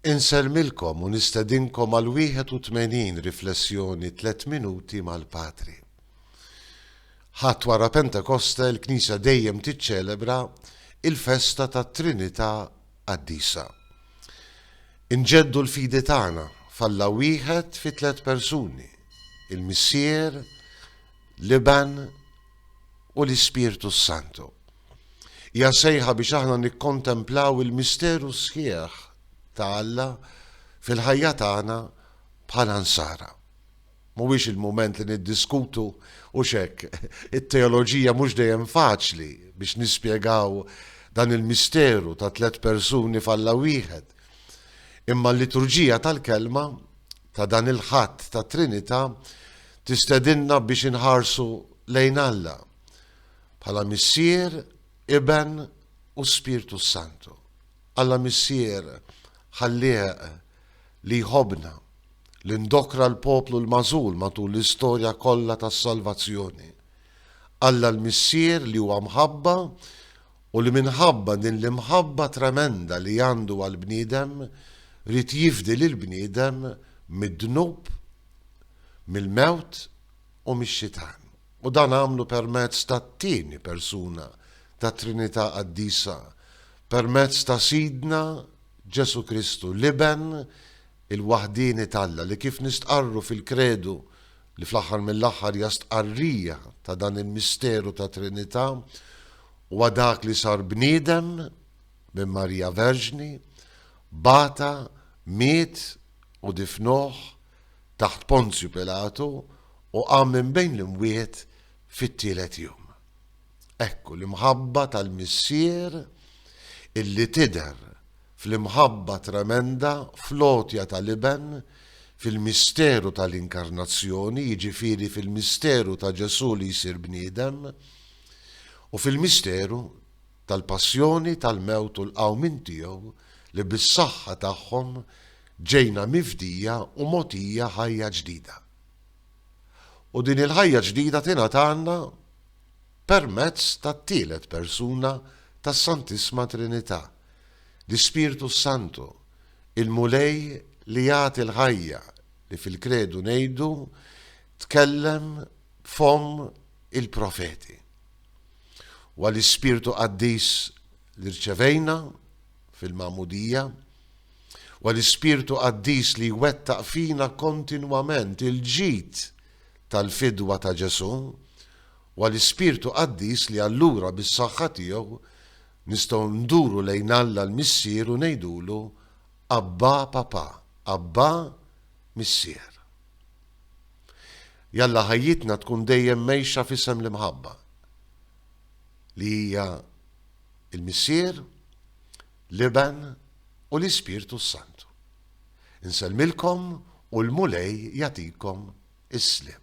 Insellmilkom u nistedinkom għal 81 riflessjoni tliet minuti mal-Patri. Ħadd wara Pentekoste l-Knisja dejjem tiċċelebra il-festa tat-Trinità Qaddisa. Inġeddu l-fidi tagħna f'Alla wieħed fi tliet persuni, il-Missier, l-Iben u l-Ispirtu s-Santu. Hija sejħa biex aħna nikkontemplaw il-misteru sħiħ ta' Alla fil-ħajja tagħna bħala Nsara. Mhuwiex il-mument li niddiskutu u x'hekk, it-teoloġija mhux dejjem faċli biex nispjegaw dan il-misteru ta' tliet persuni f'Alla wieħed. Imma l-liturġija tal-kelma ta' dan il-ħadd tat-Trinità tistedinna biex inħarsu lejn Alla. Bħala Missier, Iben u Spirtu s-Santu. Alla Missier ħallieq li jħobbna, li ndokra l-poplu l-magħżul matul l-istorja kollha tas-salvazzjoni. Alla l-Missier li huwa mħabba u li minħabba din l-imħabba tremenda li għandu għall-bniedem rrid jifdi lil bniedem mid-dnub, mill-mewt u mix-xitan. u dan għamlu permezz tat-tieni persuna tat-Trinità Qaddisa, permezz ta' Sidna Ġesù Kristu, l-Iben il-waħdieni t'Alla, li kif nistqarru fil-Kredu, li fl-aħħar mill-aħħar hija stqarrija ta' dan il-misteru ta' Trinità, huwa dak li sar bniedem minn Marija Verġni, bata, miet u difnuh, taħt Ponzju Pilatu u qam minn bejn l-imwiet fit-tielet jum. Ekku l-imħabba tal-Missier illi tidher fl-imħabba tremenda fl-għotja tal-Iben fil-misteru tal-Inkarnazzjoni, jiġifieri fil-misteru ta' Ġesù li jsir bniedem u fil-misteru tal-passjoni, tal-mewt u l-qawmien tiegħu li bis-saħħa tagħhom ġejna mifdija u mogħtija ħajja ġdida. U din il-ħajja ġdida tingħatalna permezz tat-tielet persuna tas-Santissma Trinità, l-Ispirtu s-Santu, il-Mulej li jagħti l-ħajja li fil-Kredu ngħidu tkellem b'fomm il-profeti. Huwa l-Ispirtu Qaddis li rċevejna fil-magħmudija, huwa l-Ispirtu Qaddis li jwettaq fina kontinwament il-ġid tal-fidwa ta' Ġesù, huwa l-Ispirtu Qaddis li allura bis-saħħa tiegħu nistgħu nduru lejn Alla l-Missier u ngħidulu Abbà Papà, Abbà Missier. Jalla ħajjitna tkun dejjem mgħejxa f'isem l-imħabba, li hija l-Missier, l-Iben u l-Ispirtu s-Santu. Insellmilkom u l-Mulej jagħtikom is-sliem.